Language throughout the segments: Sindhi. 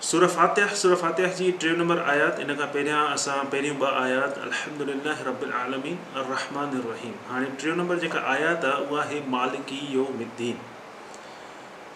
سورة فاتح، سورة فاتح جي ٽيون نمبر آيات، ان کان پهريان اسان پهريون ٻه آيات الحمد لله رب العالمين الرحمان الرحيم هاڻي ٽيون نمبر جيڪا آيات آ اها آهي مالڪي يوم الدين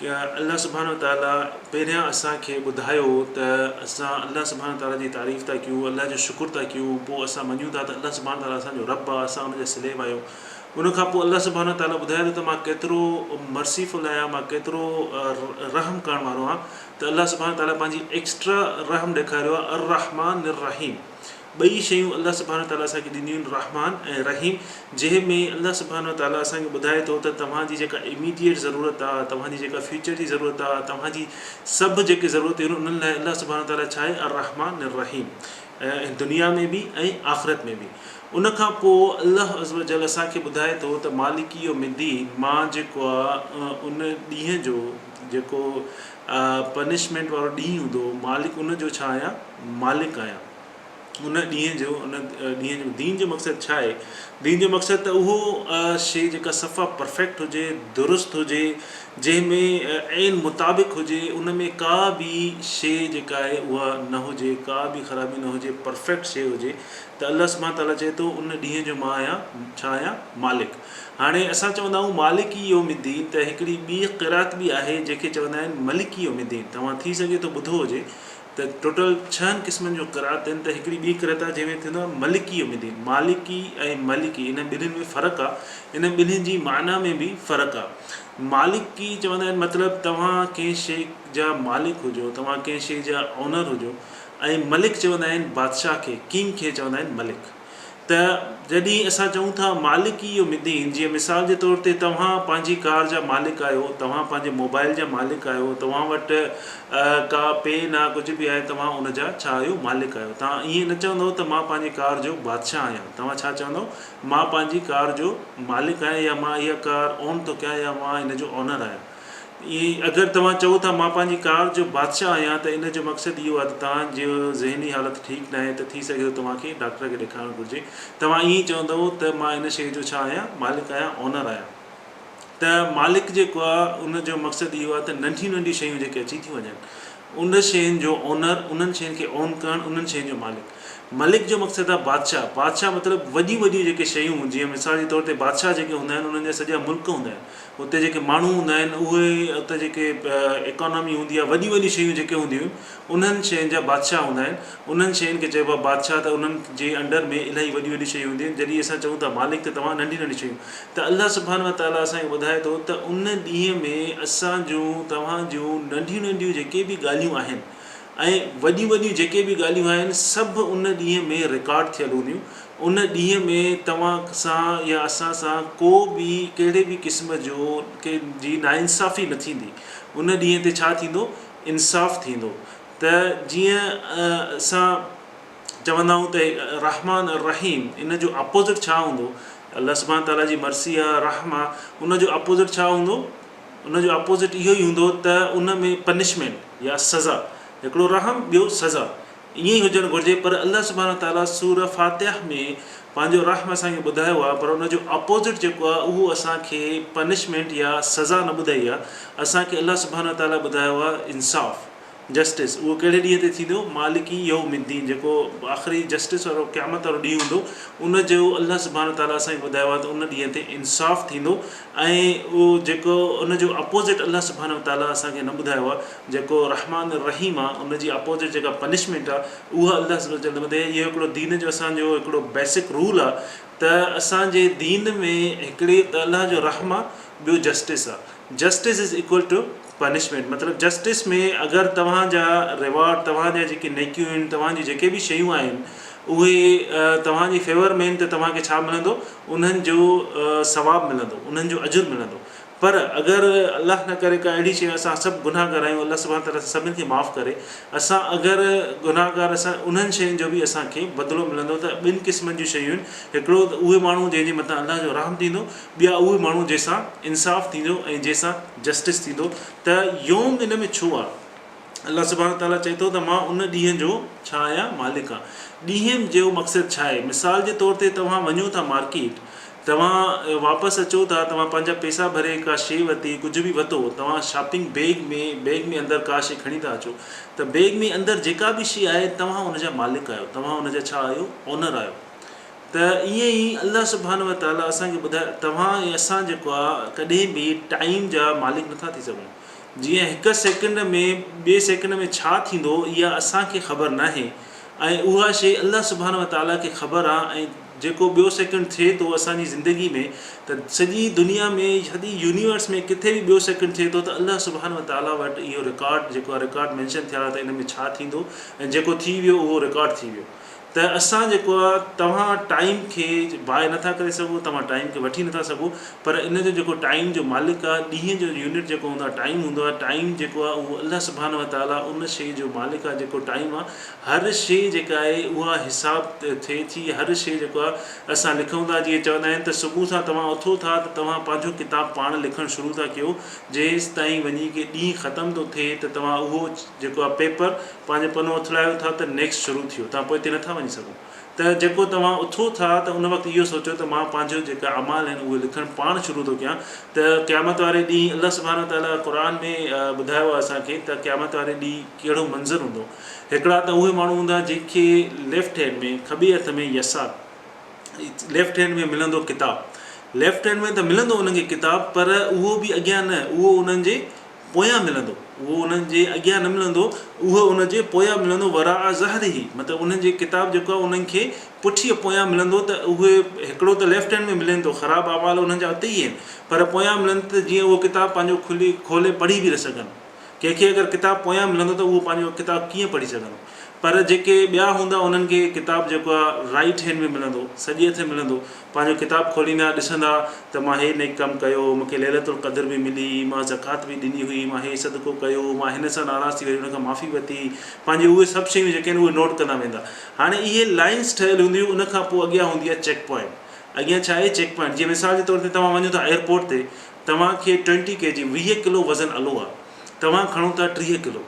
ڪي الله سبحانه وتعالى پهريان اسان کي ٻڌايو ته اسان الله سبحانه وتعالى جي تعريف ٿا ڪيون الله جو شڪر ٿا ڪيون پوء اسان مڃون ٿا ته الله سبحانه وتعالى اسان جو رب آ اسان ان جا سليب آهيون ان کان پوء الله سبحانه وتعاليٰ ٻڌائي ٿو ته مان ڪيترو Merciful آهيان، مان ڪيترو رحم ڪرڻ وارو آهيان ته الله سبحانه وتعاليٰ پنهنجي Extra رحم ڏيکاريو آهي الرحمٰن الرحيم ٻئي شيون الله سبحانه وتعاليٰ اسان کي ڏنيون آهن رحمان ۽ رحيم جنهن ۾ الله سبحانه وتعاليٰ اسان کي ٻڌائي ٿو ته توهان جي جيڪا Immediate ضرورت آهي توهان جي جيڪا Future جي ضرورت آهي توهان جي سڀ جيڪي ضرورتون آهن انهن لاء الله سبحانه وتعاليٰ ڇا آهي الرحمٰن الرحيم دنيا ۾ به ۽ آخرت ۾ به ان کان پوء الله عزّوجلّ اسان کي ٻڌائي ٿو ته مالڪ يوم الدّين مان جيڪو آ ان ڏينهن جو جيڪو پنشمينٽ وارو ڏينهن هوندو مالڪ ان جو ڇا آهيان مالڪ آهيان ان ڏينهن جو ان ڏينهن جو دين جو مقصد ڇا آهي دين جو مقصد ته اهو شيء جيڪا صفا پرفيڪٽ هجي درست هجي جنهن ۾ عين مطابق هجي ان ۾ ڪا به شيء جيڪا آهي اها نه هجي ڪا به خرابي نه هجي پرفيڪٽ شيء هجي ته الله سبحانه تعاليٰ چئي ٿو ان ڏينهن جو مان آهيان ڇا آهيان مالڪ هاڻي اسان چوندا آهيون مالڪ يوم الدين ته هڪڙي ٻي قرات به آهي جنهن کي چوندا آهن ملڪ يوم الدين توهان ٿي سگهي ٿو ٻڌو هجي ته ٽوٽل ڇهن قسمن جون قرات آهن ته هڪڙي ٻي قرات آهي جنهن ۾ ٿيندو آهي ملڪ يوم الدين مالڪي ۽ ملڪي انهن ٻنهين ۾ فرق آهي انهن ٻنهين جي معنيٰ ۾ به فرق آهي مالڪي چوندا آهن مطلب توهان ڪنهن شيء جا مالڪ هجو توهان ڪنهن شيء جا اونر هجو ۽ ملڪ چوندا آهن بادشاهه کي، King، کي چوندا آهن ملڪ. ته جڏهن اسان چئون ٿا مالڪ ئي اهو مدين، جيئن مثال جي طور تي توهان پنهنجي ڪار جا مالڪ آهيو، توهان پنهنجي موبائل جا مالڪ آهيو، توهان وٽ ڪا پين آهي ڪجهه به آهي توهان ان جا ڇا آهيو مالڪ آهيو. توهان ائين نه چوندؤ ته مان پنهنجي ڪار جو بادشاهه آهيان، توهان ڇا چوندؤ مان پنهنجي ڪار جو مالڪ آهيان يا مان اها ڪار اون ٿو ڪيان يا مان ان جو اونر آهيان. ۽ اگر توهان چئو ٿا مان پنهنجي ڪار جو بادشاهه آهيان ته ان جو مقصد اهو آهي ته توهان جي ذهني حالت ٺيڪ ناهي ته ٿي سگهي ٿو توهان کي ڊاڪٽر کي ڏيکارڻ گهرجي توهان ائين ئي چوندئو ته مان ان شيء جو ڇا آهيان مالڪ آهيان اونر آهيان ته مالڪ جيڪو آهي ان جو مقصد اهو آهي ته ننڍيون ننڍيون شيون جيڪي اچي ٿيون وڃن ان شين جو اونر انهن شين کي اون ڪرڻ انهن شين جو مالڪ ملڪ جو مقصد آهي بادشاهه بادشاهه مطلب وڏيون وڏيون جيڪي شيون جيئن مثال جي طور تي بادشاهه جيڪي هوندا آهن انهن جا سڄا ملڪ هوندا آهن اتي جيڪي ماڻهو هوندا آهن اهي اتي جيڪي اڪانامي هوندي آهي وڏيون وڏيون شيون جيڪي هونديون آهن انهن شين جا بادشاهه هوندا آهن انهن شين کي چئبو آهي بادشاهه ته انهن جي انڊر ۾ الاهي وڏيون وڏيون شيون هونديون آهن جڏهن اسان چئون ٿا مالڪ ته توهان ننڍيون ننڍيون شيون ته الله سبحانه وتعالٰي اسان کي ٻڌائي ٿو ته ان ڏينهن ۾ اسان جون توهان جون ننڍيون ننڍيون جيڪي به ڳالهيون آهن ۽ وڏيون وڏيون جيڪي به ڳالهيون آهن سڀ ان ڏينهن ۾ رڪارڊ ٿيل هونديون ان ڏينهن ۾ توهان سان يا اسان سان ڪو به ڪهڙي به قسم جو ڪي جي ناانصافي نه ٿيندي ان ڏينهن تي ڇا ٿيندو انصاف ٿيندو ته جيئن اسان چوندا آهيون ته رحمان الرحيم ان جو اپوزٽ ڇا هوندو الله سبحان تعاليٰ جي مرثي آهي رحم آهي ان جو اپوزٽ ڇا هوندو ان جو اپوزٽ اهو ئي هوندو ته ان ۾ پنشمينٽ يا سزا، هڪڙو رحم ٻيو سزا، ائين ئي هجڻ گهرجي پر الله سبحانه وتعاليٰ سورة فاتحة ۾ پنهنجو رحم اسان کي ٻڌايو آهي پر ان جو اپوزٽ جيڪو آهي اهو اسان کي پنشمينٽ يا سزا نه ٻڌائي آهي، اسان کي الله سبحانه وتعاليٰ ٻڌايو آهي انصاف. جسٽس، اهو ڪهڙي ڏينهن تي ٿيندو؟ مالڪ ئي يوم الدين، جيڪو آخري جسٽس وارو قيامت وارو ڏينهن هوندو، ان جو الله سبحانه وتعاليٰ اسان کي ٻڌايو آهي ته ان ڏينهن تي انصاف ٿيندو ۽ اهو جيڪو ان جو اپوزٽ الله سبحانه وتعاليٰ اسان کي نه ٻڌايو آهي جيڪو رحمان الرحيم آهي ان جي اپوزٽ جيڪا پنشمينٽ آهي اها الله سبحانه وتعاليٰ نه ٻڌائي آهي اهو هڪڙو دين جو اسان جو هڪڙو بيسڪ رول آهي ته اسان جي دين ۾ هڪڙي ته الله جو رحم آهي ٻيو جسٽس آهي justice is equal to punishment مطلب جسٽس ۾ اگر توهان جا ريوارڊ توهان جا جيڪي نيڪيون آهن توهان جون جيڪي به شيون آهن اهي توهان جي فيور ۾ آهن ته توهان کي ڇا ملندو انهن جو ثواب ملندو انهن جو اجر ملندو پر اگر الله نه ڪري ڪا اهڙي شي اسان سڀ گناهگار آهيون الله سبحانه تعالي اسان سڀن کي معاف ڪري اسان اگر گناهگار اسان انهن شين جو به اسان کي بدلو ملندو ته ٻن قسمن جون شيون آهن هڪڙو ته اهي ماڻهو جنهن جي مٿان الله جو رحم ٿيندو ٻيا اهي ماڻهو جنهن سان انصاف ٿيندو ۽ جنهن سان جسٽس ٿيندو ته يوم ان ۾ ڇو آ؟ الله سبحانه وتعاليٰ چئي ٿو ته مان ان ڏينهن جو ڇا آهيان مالڪ آ. ڏينهن جو مقصد ڇا آهي؟ مثال جي طور تي توهان وڃو ٿا مارڪيٽ توهان واپس اچو ٿا توهان پنهنجا پيسا ڀري ڪا شي ورتي ڪجهه به وتو توهان شاپنگ بيگ ۾ بيگ ۾ اندر ڪا شي کڻي ٿا اچو ته بيگ ۾ اندر جيڪا به شي آهي توهان ان جا مالڪ آهيو توهان ان جا ڇا آهيو اونر آهيو ته ائين ئي الله سبحانه وتعاليٰ اسان کي ٻڌايو ته توهان ۽ اسان جيڪو آهي ڪڏهن به ٽائيم جا مالڪ نٿا ٿي سگهون جيئن هڪ سيڪنڊ ۾ ٻئي سيڪنڊ ۾ ڇا ٿيندو اها اسان کي خبر ناهي ۽ اها شيء الله سبحانه وتعاليٰ کي خبر آهي ۽ جيڪو ٻيو سيڪنڊ ٿئي ٿو اسان جي زندگي ۾ ته سڄي دنيا ۾ سڄي يونيورس ۾ ڪٿي به ٻيو سيڪنڊ ٿئي ٿو ته الله سبحانه وتعاليٰ وٽ اهو رڪارڊ جيڪو آهي رڪارڊ مينشن ٿيا آهي ته ان ۾ ڇا ٿيندو ۽ جيڪو ٿي ويو اهو رڪارڊ ٿي ويو ته اسان جيڪو آ توهان ٽائيم کي باء نه ٿا ڪري سگهو توهان ٽائيم کي وٺي نه ٿا سگهو پر ان جو جيڪو ٽائيم جو مالڪ آ ڏينهن جو يونٽ جيڪو هوندو آ ٽائيم هوندو آ ٽائيم جيڪو آ اهو الله سبحانه وتعالي ان شيء جو مالڪ آ جيڪو ٽائيم آ هر شيء جيڪا آهي اها حساب ٿئي ٿي هر شيء جيڪو آ اسان لکون ٿا جيئن چوندا آهن ته صبح سان توهان اٿو ٿا ته توهان پنهنجو ڪتاب پاڻ لکڻ شروع ٿا ڪيو جيستائين وڃي ڪي ڏينهن ختم ٿو ٿئي ته توهان اهو جيڪو آ پيپر پنهنجو پنو اٿلايو ٿا ته نيڪسٽ شروع ٿيو توهان پوئتي نٿا وڃي سگهو ته جيڪو توهان اٿو ٿا ته ان وقت اهو سوچو ته مان پنهنجو جيڪا اعمال آهن اهي لکڻ پاڻ شروع ٿو ڪيان ته قيامت واري ڏينهن الله سبحانه وتعالٰي قرآن ۾ ٻڌايو آهي اسان کي ته قيامت واري ڏينهن ڪهڙو منظر هوندو هڪڙا ته اهي ماڻهو هوندا جن کي ليفٽ هينڊ ۾ کٻي هٿ ۾ يسار ليفٽ هينڊ ۾ ملندو ڪتاب ليفٽ هينڊ ۾ ته ملندو انهن کي ڪتاب پر اهو به اڳيان نه اهو انهن جي پويان ملندو، اهو انهن جي اڳيان نه ملندو، اهو انهن جي پويان ملندو، وراء ظهره، مطلب انهن جي ڪتاب جيڪو آهي انهن کي پٺيء پويان ملندو ته اهي هڪڙو ته ليفٽ هينڊ ۾ ملين ٿو، خراب اعمال انهن جا اتي ئي آهن، پر پويان ملندو ته جيئن اهو ڪتاب پنهنجو کلي کولي پڙهي به نه سگهن. ڪنهن کي اگر ڪتاب پويان ملندو ته اهو پنهنجو ڪتاب ڪيئن پڙهي سگهندو؟ پر جيڪي ٻيا هوندا انهن کي ڪتاب جيڪو آهي رائيٽ هينڊ ۾ ملندو، سڄي هٿين ملندو، پنهنجو ڪتاب کوليندا، ڏسندا ته مان هي نيڪ ڪم ڪيو هو، مون کي ليلة القدر به ملي، مان زڪوات به ڏني هئي، مان هي صدقو ڪيو هو، مان هن سان ناراض ٿي وري هن کان معافي ورتي، پنهنجي اهي سڀ شيون جيڪي آهن اهي نوٽ ڪندا ويندا. هاڻي اهي لائنس ٺهيل هونديون ان کان پوء اڳيان هوندي آهي چيڪ پوائنٽ، اڳيان ڇا آهي چيڪ پوائنٽ جيئن مثال جي طور تي توهان وڃو ٿا ايئرپورٽ تي توهان کي ٽوئنٽي ڪي جي ويهه ڪلو وزن الو آهي توهان کڻو ٿا ٽيهه ڪلو،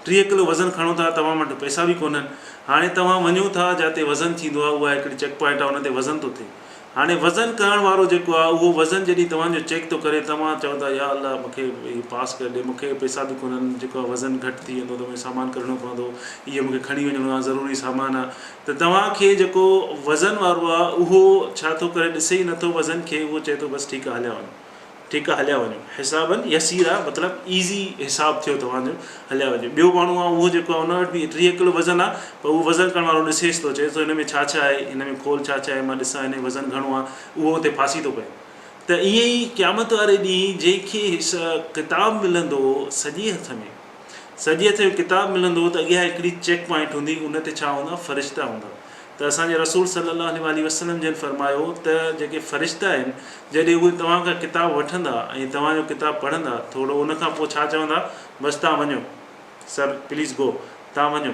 ٽيهه ڪلو وزن کڻو ٿا توهان وٽ پئسا به ڪونهن هاڻي توهان وڃو ٿا جاتي وزن ٿيندو آهي اها هڪڙي چيڪ پوائنٽ آهي ان تي وزن ٿو ٿئي هاڻي وزن ڪرڻ وارو جيڪو آهي اهو وزن جڏهن توهان جو چيڪ ٿو ڪري توهان چئو ٿا يا الله مون کي هي پاس ڪري ڏي مون کي پئسا به ڪونهن جيڪو آهي وزن گهٽ ٿي ويندو ته مون کي سامان ڪڍڻو پوندو اهو مون کي کڻي وڃڻو آهي ضروري سامان آهي ته توهان کي جيڪو وزن وارو آهي اهو ڇا ٿو ڪري ڏسي ئي نٿو وزن کي اهو چئي ٿو بس ٺيڪ آهي هليا وڃو. ٺيڪ آ هليا وڃو حسابا يسيرا مطلب ايزي حساب ٿيو توهان جو هليا وڃو ٻيو ماڻهو آ اهو جيڪو آ ان وٽ به ٽيهه ڪلو وزن آ پر اهو وزن ڪرڻ وارو ڏسيس ٿو چئيس ٿو هن ۾ ڇا ڇا آهي هن ۾ کول ڇا ڇا آهي مان ڏسان هن جو وزن گهڻو آ اهو اتي ڦاسي ٿو پئي ته ائين ئي قيامت واري ڏينهن جنهن کي ڪتاب ملندو سڄي هٿ ۾ سڄي هٿ ۾ ڪتاب ملندو ته اڳيان هڪڙي چيڪ پوائنٽ هوندي ان تي ڇا هوندا فرشتا هوندا. ته اسان جي رسول صلّي اللّٰه عليه واٰله وسلّم جن فرمايو ته جيڪي فرشته آهن جڏهن اهي توهان کان ڪتاب وٺندا ۽ توهان جو ڪتاب پڙهندا ٿوڙو ان کان پوء ڇا چوندا بس تان وڃو Sir Please Go تان وڃو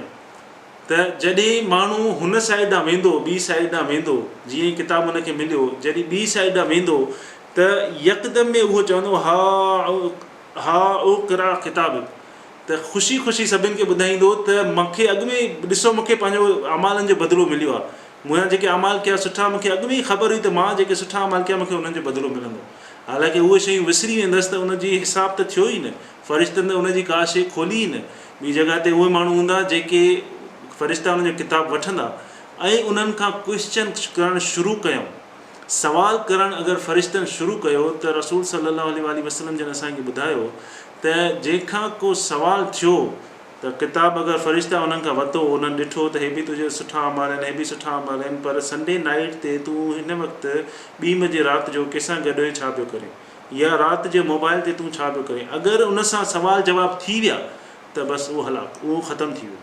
ته جڏهن ماڻهو هن سائيڊ ڏانهن ويندو ٻي سائيڊ ڏانهن ويندو جيئن ئي ڪتاب ان کي مليو جڏهن ٻي سائيڊ ڏانهن ويندو ته يڪدم ۾ اهو چوندو ها ها اقرا ڪتابڪ ته خوشي خوشي سڀن کي ٻڌائيندو ته مونکي اڳ ۾ ئي ڏسو مونکي پنهنجو اعمالن جو بدلو مليو آهي مون جيڪي اعمال ڪيا سٺا مونکي اڳ ۾ ئي خبر هئي ته مان جيڪي سٺا اعمال ڪيا مونکي انهن جو بدلو ملندو حالانڪه اهي شيون وسري ويندس ته ان جي حساب ته ٿيو ئي نه فرشتن ته ان جي ڪا شيء کولي ئي نه ٻي جڳهه تي اهي ماڻهو هوندا جيڪي فرشتا انهن جو ڪتاب وٺندا ۽ انهن کان ڪوئسچن ڪرڻ شروع ڪيون سوال ڪرڻ اگر فرشتن شروع ڪيو ته رسول صلي الله عليه واٰله وسلم جن اسان کي ٻڌايو ته جنهن کان ڪو سوال ٿيو ته ڪتاب اگر فرشته انهن کان وتو انهن ڏٺو ته هي به تنهنجا سٺا اعمال آهن هي به سٺا اعمال آهن پر سنڊي نائيٽ تي تون هن وقت ٻي بجي رات جو ڪيسان گڏ هين ڇا پيو ڪرين يا رات جي موبائل تي تون ڇا پيو ڪرين اگر ان سان سوال جواب ٿي ويا ته بس اهو هلاڪ اهو ختم ٿي ويو.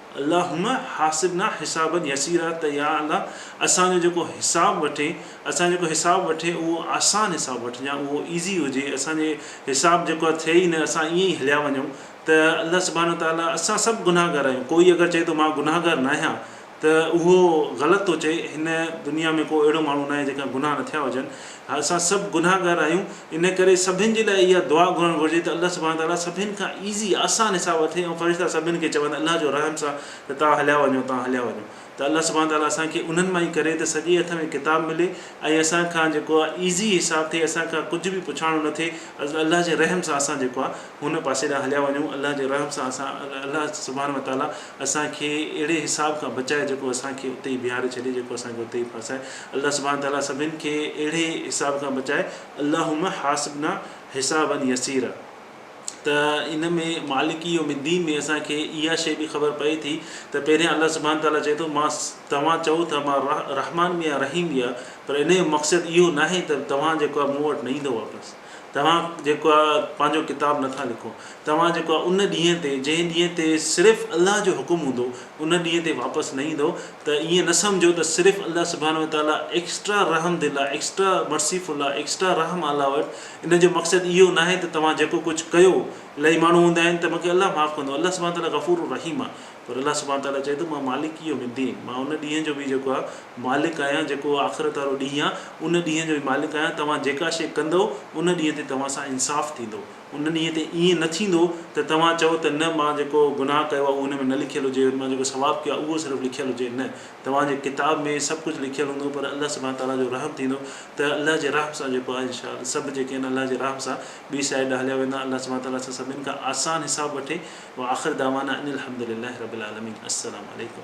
اللهم حاسبنا حسابا يسيرا ته يا الله اسان جو جيڪو حساب وٺين اسان جيڪو حساب وٺين اهو آسان حساب وٺجان اهو ايزي هجي اسان جي حساب جيڪو آهي ٿئي ئي نه اسان ائين ئي هليا وڃون ته الله سبحانه وتعالي اسان سڀ گنهگار آهيون ڪوئي اگر چئي ٿو مان گنهگار ناهيان ته اهو غلط ٿو چئي هن دنيا ۾ ڪو اهڙو ماڻهو ناهي جنهن کان گناهه نه ٿيا هجن. اسان سڀ گنهگار آهيون ان ڪري سڀن جي لاء اها دعا گهرڻ گهرجي ته الله سبحانه وتعاليٰ سڀني کان ايزي آسان حساب اٿئي ۽ فرشتا سڀني کي چون الله جو رحم سان ته توهان هليا وڃو توهان هليا وڃو ته الله سبحانه وتعاليٰ اسان کي انهن مان ئي ڪري ته سڄي هٿ ۾ ڪتاب ملي ۽ اسان کان جيڪو آهي ايزي حساب ٿئي اسان کان ڪجهه به پڇاڻو نه ٿئي الله جي رحم سان اسان جيڪو آهي هن پاسي ڏانهن هليا وڃون الله جي رحم سان اسان الله سبحانه وتعاليٰ اسان کي اهڙي حساب کان بچائي جيڪو اسان کي اتي ئي بيهاري ڇڏي جيڪو اسان کي اتي ئي ڦاسائي الله سبحانه تعاليٰ سڀني کي اهڙي حساب کان بچائي اللهم حاسبنا حسابا يسيرا ته ان ۾ مالڪ يوم الدين ۾ اسان کي اها شيء به خبر پئي ٿي ته پهريان الله سبحانه تعاليٰ چئي ٿو مان توهان چئو ٿا مان رحمان به آهيان رحيم به آهيان پر ان جو مقصد اهو ناهي ته توهان جيڪو آهي مون وٽ نه ايندو واپس توهان جيڪو آ پنهنجو ڪتاب نه ٿا لکو، توهان جيڪو آ ان ڏينهن تي، جنهن ڏينهن تي صرف الله جو حڪم هوندو، ان ڏينهن تي واپس نه ايندؤ ته ائين نه سمجهو ته صرف الله سبحانه وتعاليٰ ايڪسٽرا رحم دل آ، ايڪسٽرا مرسيفل آ، ايڪسٽرا رحم آل آور، ان جو مقصد اهو ناهي ته توهان جيڪو ڪجهه ڪيو، الائي ماڻهو هوندا آهن ته مون کي الله معاف ڪندو، الله سبحانه وتعاليٰ غفور الرحيم آ. پر الله سبحانه تعاليٰ چئي ٿو مان مالڪ يوم الدين، مان ان ڏينهن جو به جيڪو آ مالڪ آهيان جيڪو آخرت وارو ڏينهن آ ان ڏينهن جو به مالڪ آهيان توهان جيڪا شيء ڪندؤ ان ڏينهن تي توهان سان انصاف ٿيندو ان ڏينهن تي ائين نه ٿيندو ته توهان چئو ته نه مان جيڪو گناهه ڪيو آ اهو ان ۾ نه لکيل هجي مان جيڪو ثواب ڪيو آ اهو صرف لکيل هجي نه توهان جي ڪتاب ۾ سڀ ڪجهه لکيل هوندو پر الله سبحانه تعاليٰ جو رحم ٿيندو ته الله جي رحم سان جيڪو آ انشاء سڀ جيڪي آهن الله جي رحم سان ٻي سائيڊ ڏانهن هليا ويندا الله سبحانه وتعالي سان سڀني کان آسان حساب وٺي واخر دعوانا ان الحمدلله رب العالمين السلام عليڪم.